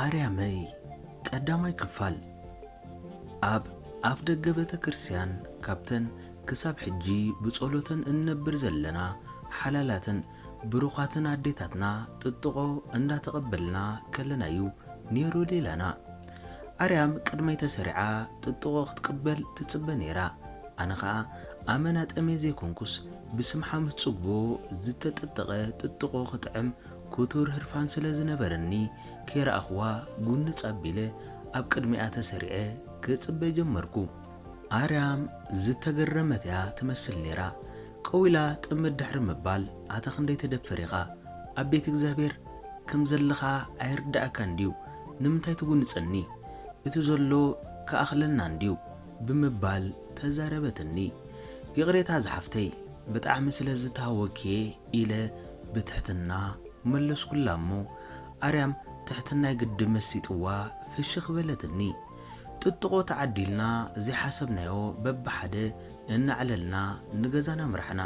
ኣርያመይ ቀዳማይ ክፋል ኣብ ኣፍ ደገ ቤተ ክርስቲያን ካብተን ክሳብ ሕጂ ብጸሎተን እንነብር ዘለና ሓላላትን ብሩኻትን ኣዴታትና ጥጥቖ እንዳተቐበልና ከለና እዩ ነይሩ ሌላና። ኣርያም ቅድመይ ተሰሪዓ ጥጥቖ ክትቅበል ትጽበ ነይራ። ኣነ ከኣ ኣመና ጠምየ ዘይኮንኩስ ብስም ሓሙስ ጽግቦ ዝተጠጠቐ ጥጥቖ ክጥዕም ክቱር ህርፋን ስለ ዝነበረኒ ከይረኣኹዋ ጉንጽ ኣቢለ ኣብ ቅድሚኣ ተሰሪዐ ክጽበ ጀመርኩ። ኣርያም ዝተገረመት'ያ ትመስል ነይራ። ቀው ኢላ ጥምት ድሕሪ ምባል ኣታ ክንደይ ተደፍር ኢኻ ኣብ ቤት እግዚኣብሔር ከም ዘለኻ ኣይርደኣካን ድዩ ንምንታይ ትጉንጸኒ እቲ ዘሎ ክኣኽለና እንድዩ ብምባል ተዛረበትኒ። ይቕሬታ ዝሓፍተይ፣ ብጣዕሚ ስለ ዝተሃወክ'የ ኢለ ብትሕትና መለስኩላ'ሞ፣ ኣርያም ትሕትናይ ግዲ መሲጥዋ ፍሽኽ በለትኒ። ጥጥቖ ተዓዲልና ዘይሓሰብናዮ በብሓደ እናዕለልና ንገዛና ኣምራሕና።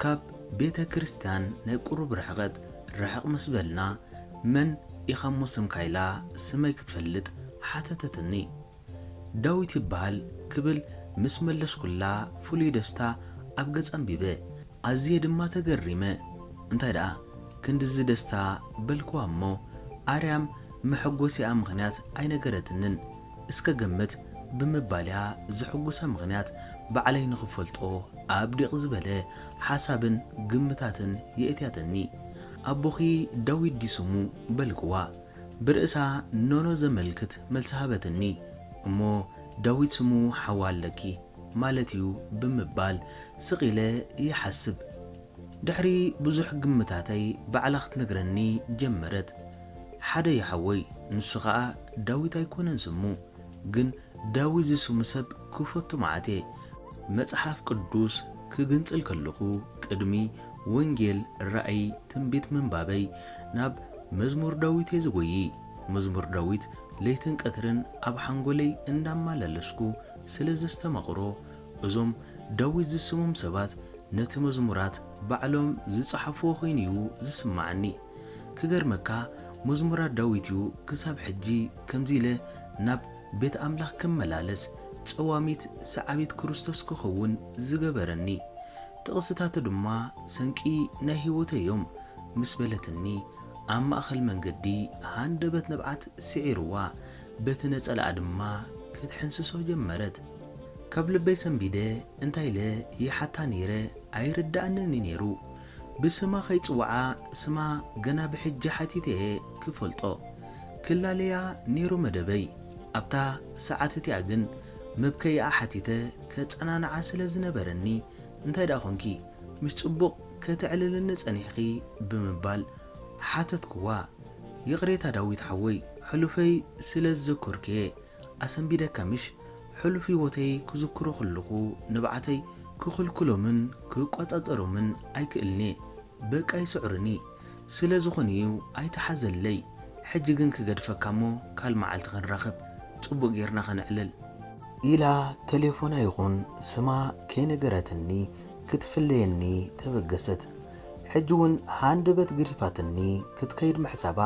ካብ ቤተ ክርስትያን ናይ ቁሩብ ርሕቐት ርሕቕ ምስ በልና፣ መን ኢኻ'ሞ ስምካ ኢላ ስመይ ክትፈልጥ ሓተተትኒ። ዳዊት ይበሃል ክብል ምስ መለስኩላ ፍሉይ ደስታ ኣብ ገጻ ኣንቢበ። ኣዝየ ድማ ተገሪመ። እንታይ ደኣ ክንድዚ ደስታ በልክዋ እሞ ኣርያም መሐጎሲኣ ምኽንያት ኣይነገረትንን እስከ ገምት ብምባል'ያ ዘሕጉሳ ምኽንያት ባዕለይ ንኽፈልጦ ኣብ ዲቕ ዝበለ ሓሳብን ግምታትን የእትያትኒ። ኣቦኺ ዳዊት ድዩ ስሙ? በልክዋ። ብርእሳ ኖኖ ዘመልክት መልሲ ሃበትኒ። እሞ ዳዊት ስሙ ሓዋ ኣለኪ ማለት'ዩ ብምባል ስቕ ኢለ ይሓስብ። ድሕሪ ብዙሕ ግምታተይ ባዕላ ክትነግረኒ ጀመረት። ሓደ'ዩ ሓወይ፣ ንሱ ከኣ ዳዊት ኣይኮነን ስሙ። ግን ዳዊት ዝስሙ ሰብ ክፈቱ መዓት'የ። መጽሓፍ ቅዱስ ክግንጽል ከለኹ ቅድሚ ወንጌል፣ ራእይ፣ ትንቢት ምንባበይ ናብ መዝሙር ዳዊት'የ ዝጎዪ። መዝሙር ዳዊት ለይትን ቀትርን ኣብ ሓንጎለይ እንዳማላለስኩ ስለ ዘስተማቕሮ፣ እዞም ዳዊት ዝስሞም ሰባት ነቲ መዝሙራት ባዕሎም ዝጸሓፍዎ ኮይኑ'ዩ ዝስማዓኒ። ክገርመካ መዝሙራት ዳዊት'ዩ ክሳብ ሕጂ ከምዚ ኢለ ናብ ቤት ኣምላኽ ክመላለስ፣ ጸዋሚት ሰዓቢት ክርስቶስ ክኸውን ዝገበረኒ። ጥቕስታቱ ድማ ሰንቂ ናይ ህይወተይ እዮም ምስ በለትኒ፣ ኣብ ማእከል መንገዲ ሃንደበት ንብዓት ስዒርዋ፣ በቲ ነጸላኣ ድማ ክትሕንስሶ ጀመረት። ካብ ልበይ ሰንቢደ እንታይ ኢለ ይሓታ ነይረ ኣይርድኣንን እዩ ነይሩ። ብስማ ከይጽውዓ ስማ ገና ብሕጂ ሓቲተ እየ ክፈልጦ። ክላለያ ነይሩ መደበይ። ኣብታ ሰዓት እቲኣ ግን መብከዪኣ ሓቲተ ከጸናንዓ ስለ ዝነበረኒ፣ እንታይ ደኣ ኰንኪ? ምስ ጽቡቕ ከተዕልልኒ ጸኒሕኺ? ብምባል ሓተትክዋ። ይቕሬታ ዳዊት ሓወይ፣ ሕሉፈይ ስለ ዝዘከርኩ'የ ኣሰንቢደካ ምሽ? ሕሉፍ ህይወተይ ክዝክሮ ከለኹ ንብዓተይ ክኽልክሎምን ክቈጻጸሮምን ኣይክእልን'የ። በቃ ይስዕሩኒ ስለ ዝኮኑ እዩ ኣይትሓዘለይ ሕጂ ግን ክገድፈካ እሞ ካል መዓልቲ ክንራከብ ጽቡቅ ጌርና ከነዕልል። ኢላ ተሌፎና ይኩን ስማ ከይነገረትኒ ክትፍለየኒ ተበገሰት ሕጂ ውን ሃንደበት ግሪፋትኒ ክትከይድ ምሕሳባ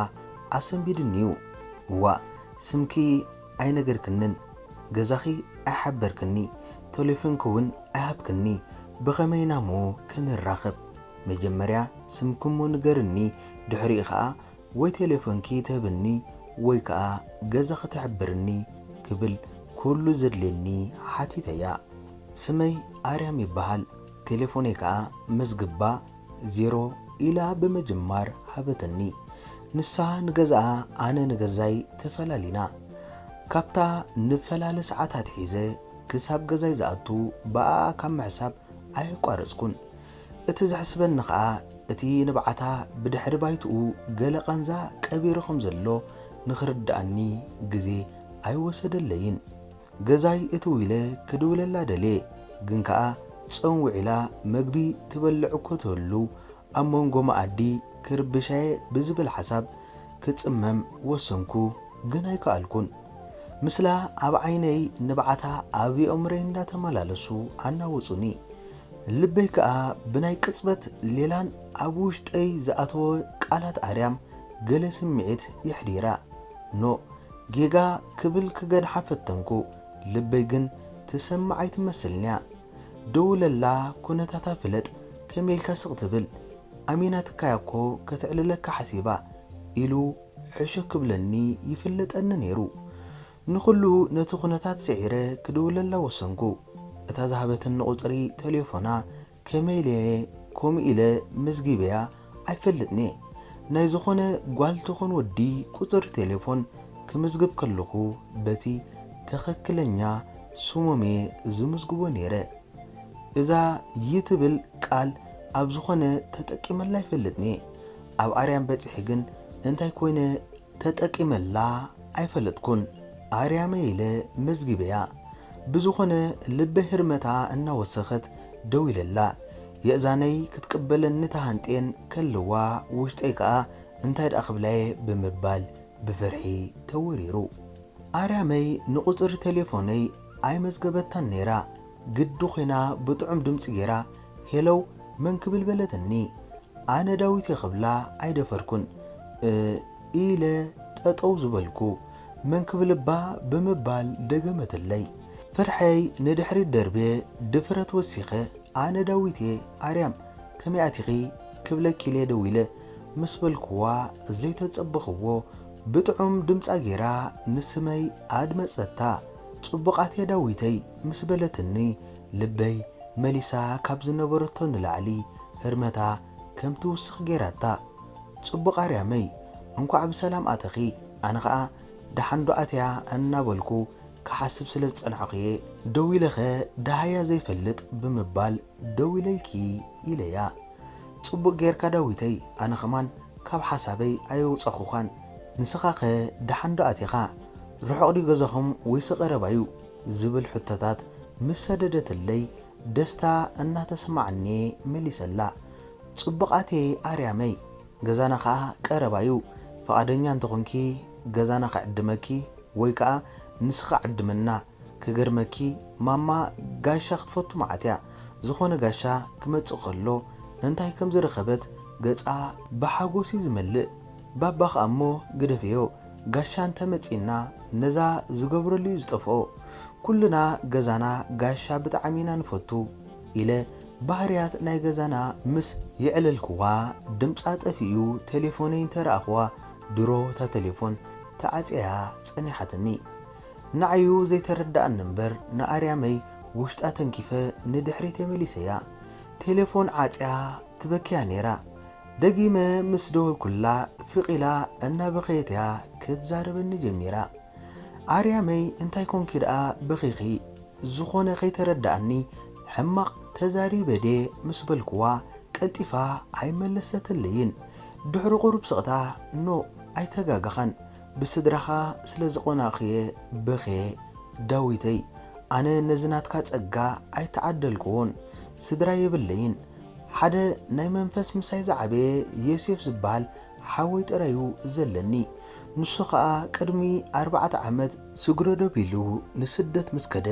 ኣሰንቢዱኒ እዩ እዋእ ስምኪ ኣይነገርክንን ገዛኺ ኣይሓበርክኒ ተሌፎንኪ ውን ኣይሃብክኒ ብኸመይ ኢና እሞ ክንራኸብ መጀመርያ ስምኪ እሞ ንገርኒ ድሕሪኡ ከኣ ወይ ተሌፎንኪ ትህብኒ ወይ ከኣ ገዛኺ ትሕብርኒ ክብል ኩሉ ዘድልየኒ ሓቲተያ ስመይ ኣርያም ይበሃል ተሌፎነይ ከኣ መዝግባ ዜሮ ኢላ ብምጅማር ሃበትኒ ንሳ ንገዛኣ ኣነ ንገዛይ ተፈላሊና ካብታ ንፈላለ ሰዓት ኣትሒዘ ክሳብ ገዛይ ዝኣቱ ብኣኣ ካብ ምሕሳብ ኣየቋረጽኩን እቲ ዘሕስበኒ ከኣ እቲ ንብዓታ ብድሕሪ ባይትኡ ገለ ቃንዛ ቀቢሩ ከም ዘሎ ንኽርድኣኒ ግዜ ኣይወሰደለይን ገዛይ እትው ኢለ ክድውለላ ደልየ ግን ከኣ ጾም ውዒላ መግቢ ትበልዕ እኮ ትህሉ ኣብ መንጎ መኣዲ ክርብሻ'የ ብዝብል ሓሳብ ክጽመም ወሰንኩ ግን ኣይከኣልኩን። ምስላ ኣብ ዓይነይ ንብዓታ ኣብ የእምሮይ እንዳተመላለሱ ኣናወጹኒ። ልበይ ከኣ ብናይ ቅጽበት ሌላን ኣብ ውሽጠይ ዝኣተወ ቃላት ኣርያም ገለ ስምዒት የሕዲራ። ኖእ ጌጋ ክብል ክገድሓ ፈተንኩ። ልበይ ግን ትሰምዕ ኣይትመስልን'ያ ደውለላ ኩነታታ ፍለጥ ከመይ ኢልካ ስቅ ትብል ኣሚናትካ'ያ'ኮ ከተዕልለካ ሓሲባ ኢሉ ሕሾ ክብለኒ ይፍለጠኒ ኔሩ ንኹሉ ነቲ ኩነታት ስዒረ ክድውለላ ወሰንኩ እታ ዝሃበትኒ ቁጽሪ ተሌፎና ከመይ ኢለ'የ ከምኡ ኢለ መዝጊበያ ኣይፈልጥን'የ፣ ናይ ዝኾነ ጓል ትኹን ወዲ ቁጽሪ ቴሌፎን ክምዝግብ ከለኹ በቲ ትኽክለኛ ስሞም'የ ዝምዝግቦ ኔረ፣ እዛ ይ ትብል ቃል ኣብ ዝኾነ ተጠቂመላ ኣይፈልጥን'የ፣ ኣብ ኣርያም በጺሐ ግን እንታይ ኮይነ ተጠቂመላ ኣይፈለጥኩን ኣርያመይ ኢለ መዝጊበያ ብዝኮነ ልበይ ህርመታ እናወሰከት ደዊለላ የእዛነይ ክትቅበለኒ ተሃንጥየን ከለዋ ውሽጠይ ከኣ እንታይ ደኣ ክብላየ ብምባል ብፍርሒ ተወሪሩ ኣርያመይ ንቁጽሪ ተሌፎነይ ኣይመዝገበታን ነይራ ግዲ ኮይና ብጥዑም ድምጺ ጌራ ሄለው መን ክብል በለትኒ ኣነ ዳዊት'የ ክብላ ኣይደፈርኩን እእ ኢለ ጠጠው ዝበልኩ መን ክብል እባ ብምባል ደገመትለይ ፍርሐይ ንድሕሪት ደርብየ ድፍረት ወሲኸ ኣነ ዳዊት'የ ኣርያም ከመይ ኣቲኺ ክብለኪ'ልየ ደዊለ ምስ በልኩዋ ዘይተጸበኽዎ ብጥዑም ድምጻ ጌራ ንስመይ ኣድመጸታ። ጽቡቓት'የ ዳዊተይ ምስ በለትኒ ልበይ መሊሳ ካብ ዝነበረቶ ንላዕሊ ህርመታ ከም ትውስኽ ጌራታ። ጽቡቕ ኣርያመይ እንኳዕ ብሰላም ኣተኺ ኣነ ኸኣ ደሓንዶ ኣትያ እናበልኩ ክሓስብ ስለ ዝጸናሕኩ'የ ደዊለኸ ደሃያ ዘይፈልጥ ብምባል ደዊለልኪ ኢለያ ጽቡቅ ጌርካ ዳዊተይ ኣነ ከማን ካብ ሓሳበይ ኣየውጸኹኻን ንስኻኸ ደሓን ዶ ኣቲኻ ርሑቅ ድዩ ገዛኹም ወይሲ ቀረባዩ ዝብል ሕቶታት ምስ ሰደደትለይ ደስታ እናተሰማዓኒየ መሊሰላ ጽቡቅ ኣትየ ኣርያመይ ገዛና ከኣ ቀረባዩ ፍቃደኛ እንተኾንኪ ገዛና ክዕድመኪ ወይ ከኣ ንስኺ ዓድምና ክገርመኪ ማማ ጋሻ ክትፈቱ መዓት እያ ዝኮነ ጋሻ ክመጽእ ከሎ እንታይ ከም ዝረከበት ገጻ ብሓጎስ እዩ ዝመልእ ባባ ከኣ እሞ ግደፍዮ ጋሻ እንተ መጺእና ነዛ ዝገብረሉ እዩ ዝጠፍኦ ኩልና ገዛና ጋሻ ብጣዕሚ ኢና ንፈቱ ኢለ ባህርያት ናይ ገዛና ምስ የዕለልክዋ ድምጻ ጠፊኡ ቴሌፎነይ እንተ ረኣክዋ ድሮ እታ ቴሌፎን ተዓጽያ ጸኒሓትኒ ንዓዩ ዘይተረደኣኒ እምበር ንኣርያመይ ውሽጣ ተንኪፈ ንድሕሪት የመሊሰያ ቴለፎን ዓጽያ ትበኪያ ኔራ ደጊመ ምስ ደወልኩላ ፍቅ ኢላ እናበኸየትያ ክትዛረበኒ ጀሚራ ኣርያመይ እንታይ ኮንኪ ደኣ በኺኺ ዝኾነ ከይተረደኣኒ ሕማቅ ተዛሪበ ድየ ምስ በልኩዋ ቀልጢፋ ኣይመለሰትለይን ድሕሪ ቁሩብ ስቅታ ኖእ ኣይተጋገኻን ብስድራኻ ስለ ዝቆናኩየ ብክየ ዳዊተይ ኣነ ነዚ ናትካ ጸጋ ኣይተዓደልኩዎን ስድራ የብለይን ሓደ ናይ መንፈስ ምሳይ ዝዓበየ ዮሴፍ ዝብሃል ሓወይ ጥራዩ ዘለኒ ንሱ ከኣ ቅድሚ ኣርባዕተ ዓመት ስግረዶ ቢሉ ንስደት ምስ ከደ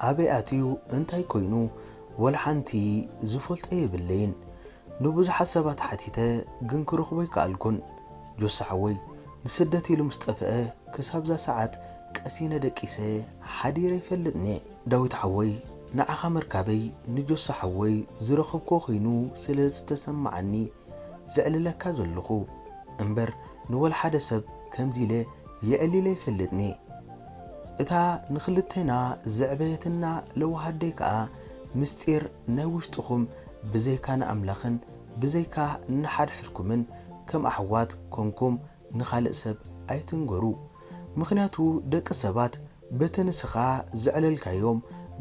ኣበይ ኣትዩ እንታይ ኮይኑ ወልሓንቲ ዝፈልጦ የብለይን ንብዙሓት ሰባት ሓቲተ ግን ክረኽቦ ኣይከኣልኩን። ጆሲ ሓወይ ንስደት ኢሉ ምስ ጠፈኣ ክሳብ እዛ ሰዓት ቀሲነ ደቂሰ ሓዲረ ኣይፈልጥንየ። ዳዊት ሓወይ ንዓኻ ምርካበይ ንጆሲ ሓወይ ዝረኸብክዎ ኮይኑ ስለ ዝተሰማዓኒ ዘዕልለካ ዘለኹ እምበር ንወልሓደ ሰብ ከምዚ ኢለ የዕሊለ ኣይፈልጥንየ እታ ንኽልቴና ዘዕበየትና ለዋህ ኣደይ ከኣ ምስጢር ናይ ውሽጥኹም ብዘይካ ንኣምላኽን ብዘይካ ንሓድሕድኩምን ከም ኣሕዋት ኮንኩም ንኻልእ ሰብ ኣይትንገሩ ምኽንያቱ ደቂ ሰባት በቲ ንስኻ ዘዕለልካዮም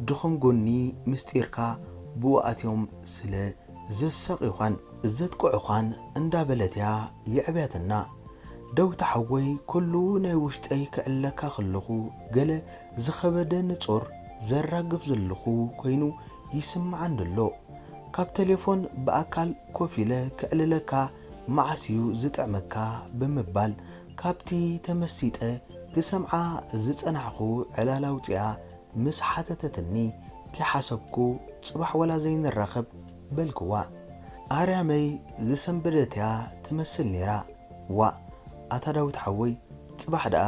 ድኹም ጎኒ ምስጢርካ ብኡ ኣትዮም ስለ ዘሳቅዩኻን ዘጥቅዑኻን እንዳ በለት እያ የዕብያትና ደውታ ሓወይ ኩሉ ናይ ውሽጠይ ክዕለካ ከለኹ ገለ ዝኸበደ ንጹር ዘራግፍ ዘለኹ ኮይኑ ይስማዓኒ ኣሎ ካብ ተሌፎን ብኣካል ኮፍ ኢለ ከዕልለካ መዓስ'ዩ ዝጥዕመካ ብምባል ካብቲ ተመሲጠ ክሰምዓ ዝጸናሕኩ ዕላል ኣውጺኣ ምስ ሓተተትኒ ከይሓሰብኩ ጽባሕ ወላ ዘይንራኸብ በልክዋ። ኣርያመይ ዝሰንበደት'ያ ትመስል ኔራ። ዋእ ኣታ ዳዊት ሓወይ ጽባሕ ደኣ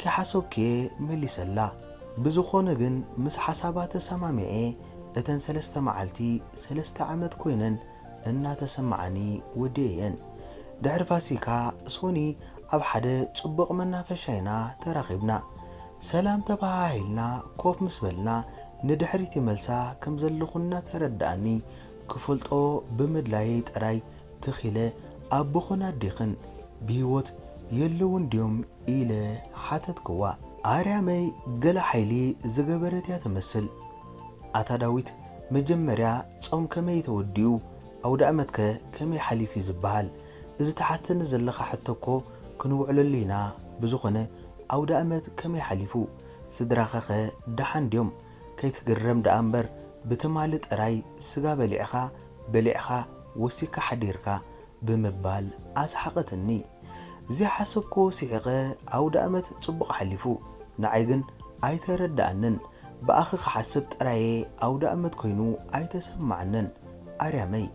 ከይሓሰብኩ'የ መሊሰላ። ብዝኾነ ግን ምስ ሓሳባ ተሰማሚዐ፣ እተን ሰለስተ መዓልቲ ሰለስተ ዓመት ኮይነን እናተሰማዓኒ ወዲኤየን። ድሕሪ ፋሲካ፣ ሶኒ ኣብ ሓደ ጽቡቕ መናፈሻ ኢና ተራኺብና። ሰላም ተበሃሂልና ኮፍ ምስ በልና፣ ንድሕሪት ይመልሳ ከም ዘለኹ እናተረድኣኒ፣ ክፈልጦ ብምድላየይ ጥራይ ትኽ ኢለ ኣቦኽን ኣዴኽን ብህይወት የለዉን ድዮም? ኢለ ሓተትክዋ። ኣርያመይ ገለ ሓይሊ ዝገበረት እያ ትመስል። ኣታ ዳዊት መጀመርያ ጾም ከመይ እዩ ተወዲኡ ኣውዳእመትከ ከመይ ሓሊፉ እዩ ዝበሃል እዚ ትሓተኒ ዘለኻ ሕቶ እኮ ክንውዕለሉ ኢና ብዝኾነ ኣውዳእመት ከመይ ሓሊፉ ስድራኻኸ ደሓን ድዮም ከይትግረም ደኣ እምበር ብትማሊ ጥራይ ስጋ በሊዕኻ በሊዕኻ ወሲካ ሓዲርካ ብምባል ኣስሓቐትኒ። ዘይሓሰብክዎ ስሒቐ ኣውደኣመት ጽቡቕ ሓሊፉ። ንዓይ ግን ኣይተረደኣንን። ብኣኺ ክሓስብ ጥራየ ኣውደኣመት ኮይኑ ኣይተሰማዓንን። ኣርያመይ!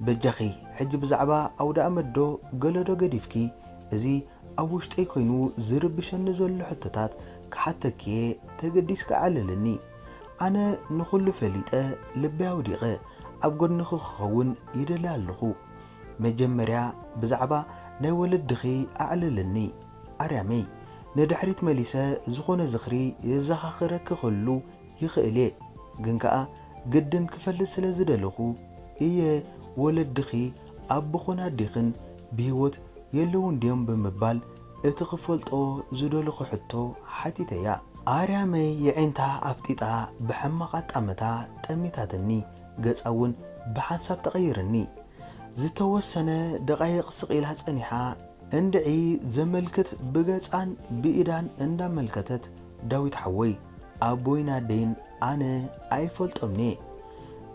በጃኺ ሕጂ ብዛዕባ ኣውደኣመትዶ ገለዶ ገዲፍኪ እዚ ኣብ ውሽጠይ ኮይኑ ዝርብሸኒ ዘሎ ሕቶታት ክሓተኪየ ተገዲስኪ ኣዕልልኒ። ኣነ ንኹሉ ፈሊጠ ልበይ ኣውዲቐ ኣብ ጎድንኺ ክኸውን ይደሊ ኣለኹ መጀመርያ ብዛዕባ ናይ ወለድኺ ኣዕልልኒ ኣርያመይ ንድሕሪት መሊሰ ዝኾነ ዝኽሪ የዛኻኽረኪ ክህሉ ይኽእልየ ግን ከኣ ግድን ክፈልጥ ስለ ዝደለኹ እየ ወለድኺ ኣቦኽን ኣዴኽን ብሂወት የለዉን ድዮም ብምባል እቲ ክፈልጦ ዝደለኹ ሕቶ ሓቲተያ ኣርያመይ የዒንታ ኣፍጢጣ ብሕማቕ ኣጣምታ ጠሚታትኒ ገጻ እውን ብሓንሳብ ተቐይርኒ ዝተወሰነ ደቓይቕ ስቕ ኢላ ጸኒሓ እንድዒ ዘመልክት ብገጻን ብኢዳን እንዳመልከተት ዳዊት ሓወይ ኣቦይን ኣደይን ኣነ ኣይፈልጦምን'የ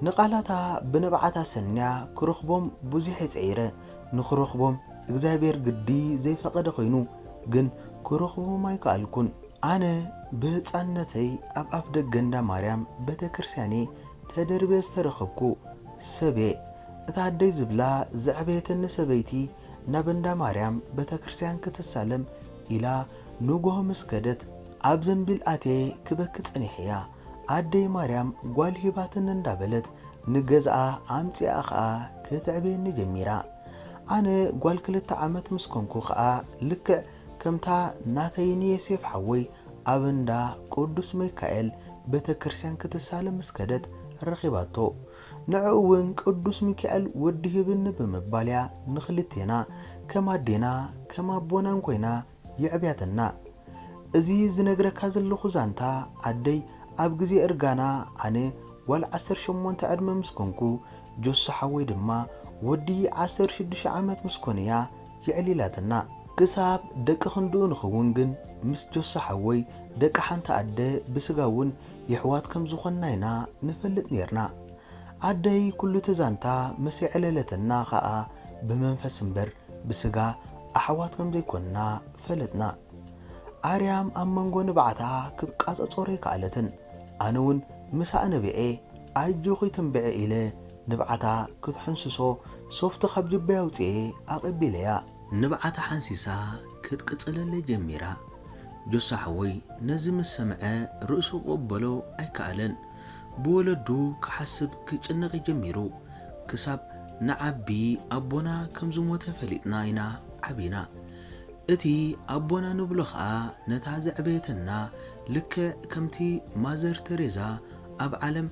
ንቓላታ ብንብዓት ኣሰንያ ክረኽቦም ብዙሕ'የ ጸዒረ ንኽረኽቦም እግዚኣብሔር ግዲ ዘይፈቀደ ኮይኑ ግን ክረኽቦም ኣይከኣልኩን። ኣነ ብህጻንነተይ ኣብ ኣፍደገ እንዳ ማርያም ቤተክርስቲያን'የ ተደርብየ ዝተረኽብኩ ሰብ'የ። እታ ኣደይ ዝብላ ዘዕበየትኒ ሰበይቲ ናብ እንዳ ማርያም ቤተክርስቲያን ክትሳለም ኢላ ንጉሆ ምስ ከደት ኣብ ዘንቢል ኣትየ ክበኪ ጸኒሐያ። ኣደይ ማርያም ጓል ሂባትኒ እንዳበለት ንገዛኣ ኣምጺኣ ከኣ ከተዕብየኒ ጀሚራ። ኣነ ጓል ክልተ ዓመት ምስ ኮንኩ ከኣ ልክዕ ከምታ ናተይ ንየሴፍ ሓወይ ኣብ እንዳ ቁዱስ መይካኤል ቤተክርስትያን ክትሳለም ምስ ከደት ረኺባቶ ንዕኡ ውን ቅዱስ ሚካኤል ወዲ ህብኒ ብምባል እያ ንኽልቴና ከም ኣዴና ከም ኣቦናን ኮይና የዕብያተና እዚ ዝነግረካ ዘለኩ ዛንታ ኣደይ ኣብ ግዜ እርጋና ኣነ ጓል ዓሰርተ ሸሞንተ ዕድመ ምስ ኮንኩ ጆሱ ሓወይ ድማ ወዲ ዓሰርተ ሽዱሽተ ዓመት ምስ ኮነ እያ የዕሊላትና ክሳብ ደቂ ክንድኡ ንከውን ግን ምስ ጆሱ ሓወይ ደቂ ሓንቲ ኣደ ብስጋ ውን የሕዋት ከም ዝኮንና ኢና ንፈልጥ ኔርና ኣደይ ኩሉ እቲ ዛንታ ምስ የዕለለተና ከኣ ብመንፈስ እምበር ብስጋ ኣሕዋት ከም ዘይኰንና ፈለጥና። ኣርያም ኣብ መንጎ ንብዓታ ክትቛጸጸሮ ኣይከኣለትን፣ ኣነውን ምሳኣ ነቢዔ፣ ኣጆኺ ትንብዒ ኢለ ንብዓታ ክትሕንስሶ ሶፍቲ ካብ ጅበይ ኣውጺኤ ኣቐቢለያ። ንብዓታ ሓንሲሳ ክትቅጽለለይ ጀሚራ። ጆሲ ሓወይ ነዚ ምስ ሰምዐ ርእሱ ክቕበሎ ኣይከኣለን። ብወለዱ ክሓስብ ክጭነቅ ጀሚሩ ክሳብ ንዓቢ ኣቦና ከም ዝሞተ ፈሊጥና ኢና ዓቢና እቲ ኣቦና ንብሎ ከኣ ነታ ዘዕበየትና ልክዕ ከምቲ ማዘር ተሬዛ ኣብ ዓለም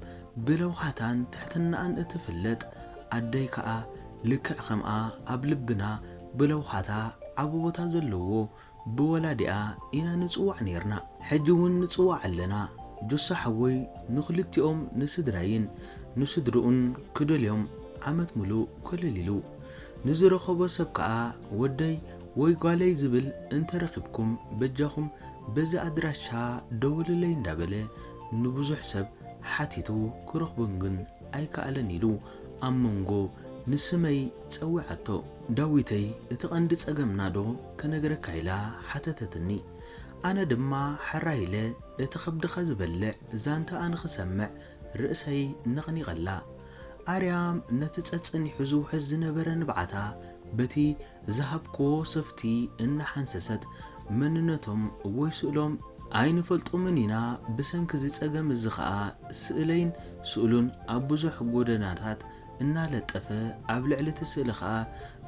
ብለውሃታን ትሕትናኣን እትፍለጥ ኣደይ ከኣ ልክዕ ከምኣ ኣብ ልብና ብለውሃታ ዓቢ ቦታ ዘለዎ ብወላዲኣ ኢና ንጽዋዕ ኔርና ሕጂ ውን ንጽዋዕ ኣለና ጆሲ ሓወይ ንክልቲኦም ንስድራይን ንስድርኡን ክደልዮም ዓመት ምሉእ ኮለል ኢሉ ንዝረከቦ ሰብ ከኣ ወደይ ወይ ጓለይ ዝብል እንተረኪብኩም በጃኩም በዚ ኣድራሻ ደውልለይ እንዳበለ ንብዙሕ ሰብ ሓቲቱ ክረክቦም ግን ኣይከኣለን ኢሉ ኣብ መንጎ ንስመይ ጸውዓቶ። ዳዊተይ እቲ ቀንዲ ጸገምና ዶ ክነግረካ ኢላ ሓተተትኒ። ኣነ ድማ ሕራይ ኢለ እቲ ከብድኻ ዝበልዕ ዛንታኣ ንኽሰምዕ ርእሰይ ነቕኒቐላ። ኣርያም ነቲ ጸጸኒሑ ዝውሕዝ ዝነበረ ንብዓታ በቲ ዝሃብክዎ ሶፍቲ እናሓንሰሰት፣ መንነቶም ወይ ስእሎም ኣይንፈልጦምን ኢና፣ ብሰንኪ እዚ ጸገም እዚ ኸኣ ስእለይን ስእሉን ኣብ ብዙሕ ጎደናታት እናለጠፈ ኣብ ልዕሊ'ቲ ስእሊ ከኣ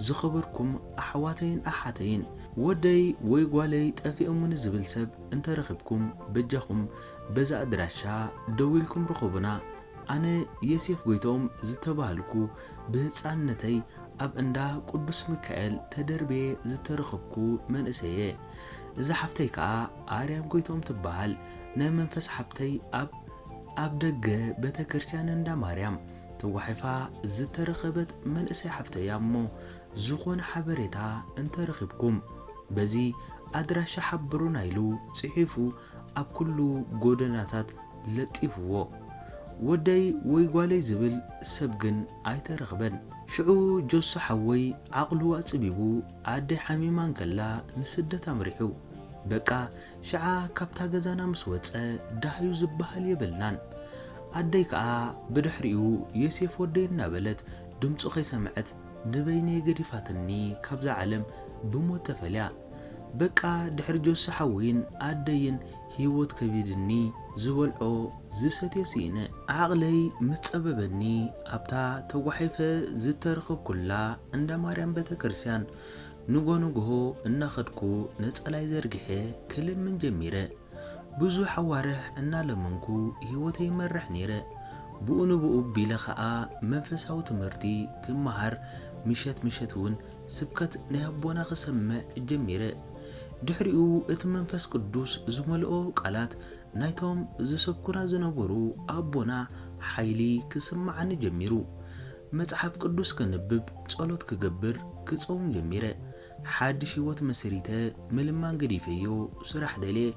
ዝኸበርኩም ኣሕዋተይን ኣሓተይን ወደይ ወይ ጓለይ ጠፊኦሙኒ ዝብል ሰብ እንተረኺብኩም በጃኹም በዚ ኣድራሻ ደዊልኩም ርኸቡና ኣነ የሴፍ ጎይትኦም ዝተባሃልኩ ብህጻንነተይ ኣብ እንዳ ቁዱስ ምካኤል ተደርብየ ዝተረኽብኩ መንእሰይ እየ እዛ ሓፍተይ ከኣ ኣርያም ጎይትኦም ትባሃል ናይ መንፈስ ሓብተይ ኣብ ኣብ ደገ ቤተክርስትያን እንዳ ማርያም ተጓሒፋ ዝተረኸበት መንእሰይ ሓፍተይ እያ እሞ ዝኾነ ሓበሬታ እንተረኺብኩም በዚ ኣድራሻ ሓብሩና ኢሉ ጺሒፉ ኣብ ኩሉ ጎደናታት ለጢፍዎ። ወደይ ወይ ጓለይ ዝብል ሰብ ግን ኣይተረኽበን። ሽዑ ጆሶ ሓወይ ዓቕሉ ኣጽቢቡ ኣደይ ሓሚማ እንከላ ንስደት ኣምሪሑ። በቃ ሽዓ ካብታ ገዛና ምስ ወጸ ዳህዩ ዝብሃል የብልናን። ኣደይ ከኣ ብድሕሪኡ ዮሴፍ ወደይ እናበለት ድምጹ ከይሰምዐት ንበይነይ ገዲፋትኒ ካብዛ ዓለም ብሞት ተፈልያ። በቃ ድሕሪ ጆሲ ሓወይን ኣደይን ህይወት ከቢድኒ ዝበልዖ ዝሰትዮ ስኢነ። ዓቕለይ ምስ ጸበበኒ ኣብታ ተጓሒፈ ዝተረኽብኩላ እንዳ ማርያም ቤተክርስቲያን ንጎ ንግሆ እናኸድኩ ነጸላይ ዘርጊሐ ክልምን ጀሚረ። ብዙሕ ኣዋርሕ እናለመንኩ ህይወተይ ይመርሕ ነይረ። ብኡ ንብኡ ቢለ ከኣ መንፈሳዊ ትምህርቲ ክመሃር ምሸት ምሸት ውን ስብከት ናይ ኣቦና ክሰምዕ ጀሚረ። ድሕሪኡ እቲ መንፈስ ቅዱስ ዝመልኦ ቃላት ናይቶም ዝሰብኩና ዝነበሩ ኣቦና ሓይሊ ክስመዓኒ ጀሚሩ። መጽሓፍ ቅዱስ ከንብብ፣ ጸሎት ክገብር፣ ክጸውም ጀሚረ። ሓድሽ ህይወት መስሪተ፣ ምልማን ገዲፈዮ፣ ስራሕ ደልየ፣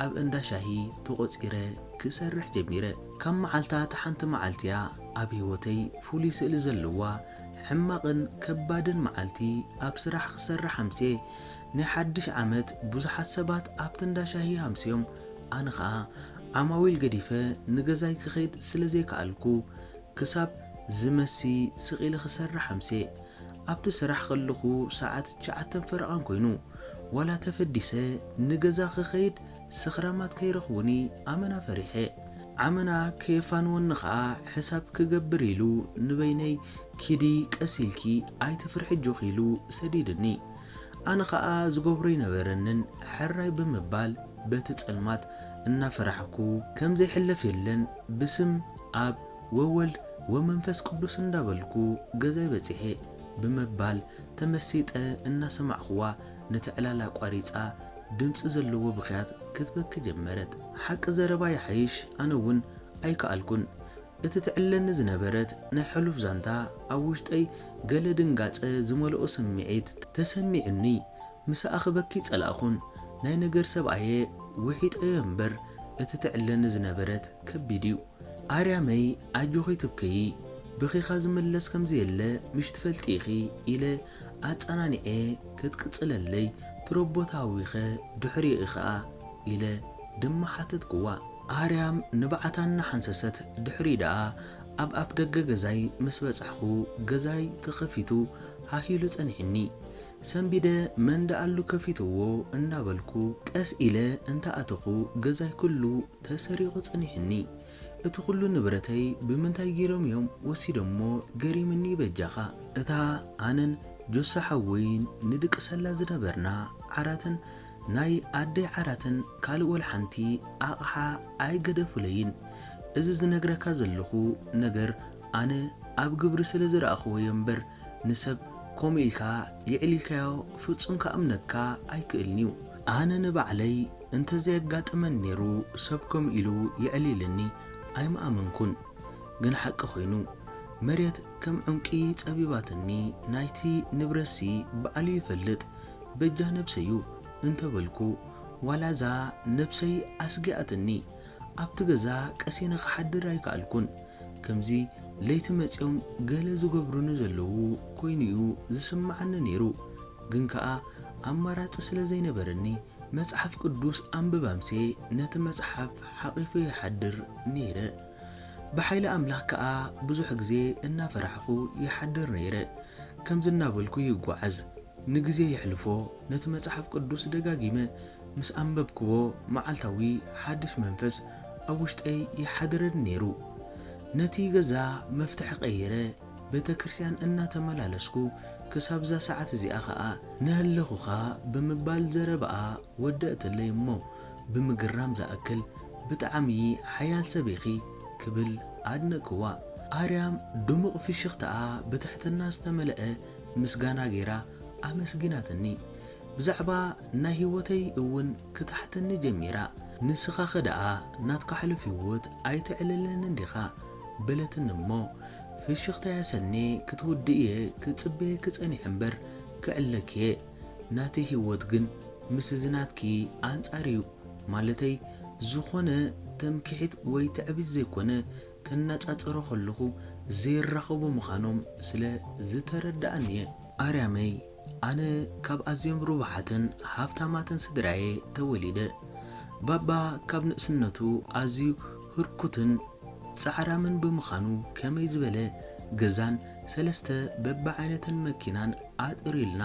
ኣብ እንዳ ሻሂ ተቖጺረ ክሰርሕ ጀሚረ። ካብ መዓልታት ሓንቲ መዓልቲ'ያ ኣብ ህይወተይ ፍሉይ ስእሊ ዘለዋ፣ ሕማቕን ከባድን መዓልቲ ኣብ ስራሕ ክሰርሕ ኣምስየ። ናይ ሓድሽ ዓመት ብዙሓት ሰባት ኣብቲ እንዳ ሻሂ ኣምስዮም፣ ኣነ ኸኣ ዓማዊል ገዲፈ ንገዛይ ክኸይድ ስለ ዘይከኣልኩ፣ ክሳብ ዝመሲ ስቕ ኢለ ክሰርሕ ኣምስየ። ኣብቲ ስራሕ ከለኹ ሰዓት ትሽዓተን ፈረቓን ኮይኑ። ዋላ ተፈዲሰ ንገዛ ክኸይድ ስኽራማት ከይረኽቡኒ ኣመና ፈሪሐ። ኣመና ከየፋንወኒ ከኣ ሕሳብ ክገብር ኢሉ ንበይነይ ኪዲ ቀስ ኢልኪ ኣይትፍርሒ ኣጆኺ ኢሉ ሰዲድኒ። ኣነ ከኣ ዝገብሮ ኣይነበረንን ሕራይ ብምባል በቲ ጸልማት እናፈራሕኩ። ከምዘይሕለፍ የለን ብስም። ኣብ ወወልድ ወመንፈስ ቅዱስ እንዳበልኩ ገዛይ በጺሐ ብምባል ተመሲጠ እናሰማዕኩዋ ነቲ ዕላል ኣቋሪጻ ድምጺ ዘለዎ ብኽያት ክትበኪ ጀመረት። ሓቂ ዘረባ ይሓይሽ ኣነ'ውን ኣይከኣልኩን። እቲ ትዕለኒ ዝነበረት ናይ ሕሉፍ ዛንታ ኣብ ውሽጠይ ገለ ድንጋጸ ዝመልኦ ስምዒት ተሰሚዑኒ ምስ ኣኽበኪ ጸላእኹን ናይ ነገር ሰብ ኣየ ዊሒጠዮ እምበር እቲ ትዕለኒ ዝነበረት ከቢድ እዩ ኣርያመይ ኣጆኺ ትብከዪ ብኺኻ ዝምለስ ከምዘየለ ምሽ ትፈልጢ ኢኺ ኢለ ኣጻናኒዔ ከትቅጽለለይ ትሮቦ ተሃዊኸ ድሕሪኡ ኢኺኣ ኢለ ድማ ሓተትክዋ ኣርያም ንብዓታ እናሓንሰሰት ድሕሪኡ ደኣ ኣብ ኣፍደገ ገዛይ ምስ በጻሕኹ ገዛይ ተኸፊቱ ሃህ ኢሉ ጸኒሑኒ ሰንቢደ መን ደኣሉ ከፊትዎ እንዳበልኩ ቀስ ኢለ እንተኣተኹ ገዛይ ኩሉ ተሰሪቑ ጸኒሑኒ እቲ ኩሉ ንብረተይ ብምንታይ ጌሮም እዮም ወሲዶሞ ገሪምኒ በጃኻ። እታ ኣነን ጆሲ ሓወይን ንድቅሰላ ዝነበርና ዓራትን ናይ ኣደይ ዓራትን ካልእ ወልሓንቲ ኣቕሓ ኣይገደፉለይን እዚ ዝነግረካ ዘለኹ ነገር ኣነ ኣብ ግብሪ ስለ ዝረኣኹዎዮ እምበር ንሰብ ከምኡ ኢልካ የዕሊልካዮ ፍጹም ክኣምነካ ኣይክእልን'ዩ። ኣነ ንባዕለይ እንተዘየጋጥመኒ ኔሩ ሰብ ከምኡ ኢሉ የዕሊልኒ ኣይምኣመንኩን። ግን ሓቂ ኮይኑ። መሬት ከም ዑንቂ ጸቢባትኒ ናይቲ ንብረትሲ ባዕሉ ይፈልጥ በጃ ነብሰይ'ዩ እንተበልኩ ዋላ'ዛ ነብሰይ ኣስጊኣትኒ ኣብቲ ገዛ ቀሲነ ክሓድር ኣይከኣልኩን። ከምዚ ለይቲ መጺኦም ገለ ዝገብሩኒ ዘለዉ ኮይኑ'ዩ ዝስምዓኒ ነይሩ። ግን ከኣ ኣማራጺ ስለ ዘይነበረኒ መጽሓፍ ቅዱስ ኣንብብ ኣምሴ ነቲ መጽሓፍ ሓቚፈዮ ይሓድር ነይረ። ብሓይሊ ኣምላኽ ከኣ ብዙሕ ግዜ እናፈራሕኩ ይሓድር ነይረ። ከምዚ እናበልኩ ይጓዓዝ። ንግዜ የሕልፎ፣ ነቲ መጽሓፍ ቅዱስ ደጋጊመ ምስ ኣንበብክዎ መዓልታዊ ሓድሽ መንፈስ ኣብ ውሽጠይ ይሓድረኒ ነይሩ። ነቲ ገዛ መፍትሒ ቀይረ ቤተክርስቲያን እናተመላለስኩ ክሳብ'ዛ ሰዓት እዚኣ ከኣ ነሀለኹኻ ብምባል ዘረባኣ ወደእትለይ እሞ ብምግራም ዝኣክል ብጣዕሚ ሓያል ሰብ ኢኺ ክብል ኣድነቅክዋ። ኣርያም ድሙቅ ፍሽኽታኣ ብትሕትና ዝተመለኣ ምስጋና ገይራ ኣመስጊናትኒ። ብዛዕባ ናይ ሂወተይ እውን ክትሓተኒ ጀሚራ ንስኻኸ ደኣ ናትካ ሕሉፍ ሂወት ኣይተዕልለንን ዲኻ በለትኒ እሞ ፍሽኽታያ ሰኔ ክትውድእ እየ ክጽበየኪ ጸኒሐ እምበር ክዕልለኪ እየ ናተይ ሂወት ግን ምስ እዚ ናትኪ ኣንጻር እዩ ማለተይ ዝኾነ ተምኪሒት ወይ ትዕቢት ዘይኮነ ከነጻጽሮ ከለኹ ዘይራኸቡ ምኻኖም ስለ ዝተረደኣኒ እየ። ኣርያመይ ኣነ ካብ ኣዝዮም ርቡሓትን ሃብታማትን ስድራ'የ ተወሊደ። ባባ ካብ ንእስነቱ ኣዝዩ ህርኩትን ጻዕራምን ብምኻኑ ከመይ ዝበለ ገዛን ሰለስተ በብዓይነተን መኪናን ኣጥርዩልና።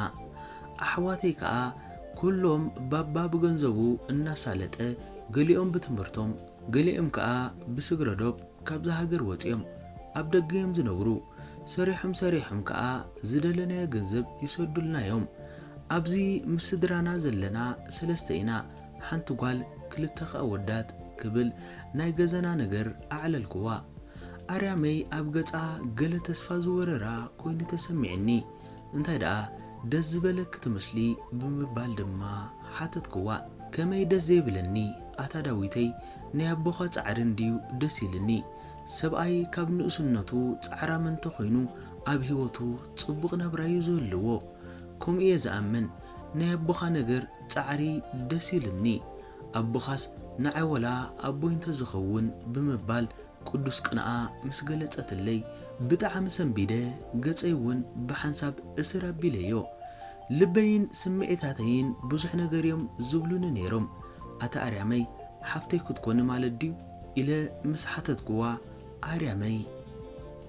ኣሕዋተይ ከኣ ኩሎም ባባ ብገንዘቡ እናሳለጠ ገሊኦም ብትምህርቶም፣ ገሊኦም ከኣ ብስግረ ዶብ ካብዛ ሃገር ወጺኦም ኣብ ደገ እዮም ዝነብሩ። ሰሪሖም ሰሪሖም ከኣ ዝደለናዮ ገንዘብ ይሰዱልና እዮም። ኣብዚ ምስ ስድራና ዘለና ሰለስተ ኢና፣ ሓንቲ ጓል ክልተ ከኣ ኣወዳት ክብል ናይ ገዛና ነገር ኣዕለልኩዋ። ኣርያመይ ኣብ ገጻ ገለ ተስፋ ዝወረራ ኮይኑ ተሰሚዑኒ። እንታይ ደኣ ደስ ዝበለኪ ትመስሊ ብምባል ድማ ሓተትክዋ። ከመይ ደስ ዘይብለኒ ኣታ ዳዊተይ ናይ ኣቦኻ ጻዕሪ እንድዩ ደስ ኢልኒ። ሰብኣይ ካብ ንእስነቱ ጻዕራም እንተ ኾይኑ ኣብ ሂወቱ ጽቡቕ ናብራ'ዩ ዝህልዎ። ከምኡ'የ ዝኣምን። ናይ ኣቦኻ ነገር ጻዕሪ ደስ ኢልኒ። ኣቦኻስ ንዓይ ወላ ኣቦይ እንተ ዝኸውን ብምባል ቅዱስ ቅንኣ ምስ ገለጸትለይ ብጣዕሚ ሰንቢደ ገጸይ ውን ብሓንሳብ እስር ኣቢለዮ ልበይን ስምዒታተይን ብዙሕ ነገር ዮም ዝብሉኒ ኔሮም ኣቲ ኣርያመይ ሓፍተይ ክትኮኒ ማለት ድዩ ኢለ ምስ ሓተትክዋ ኣርያመይ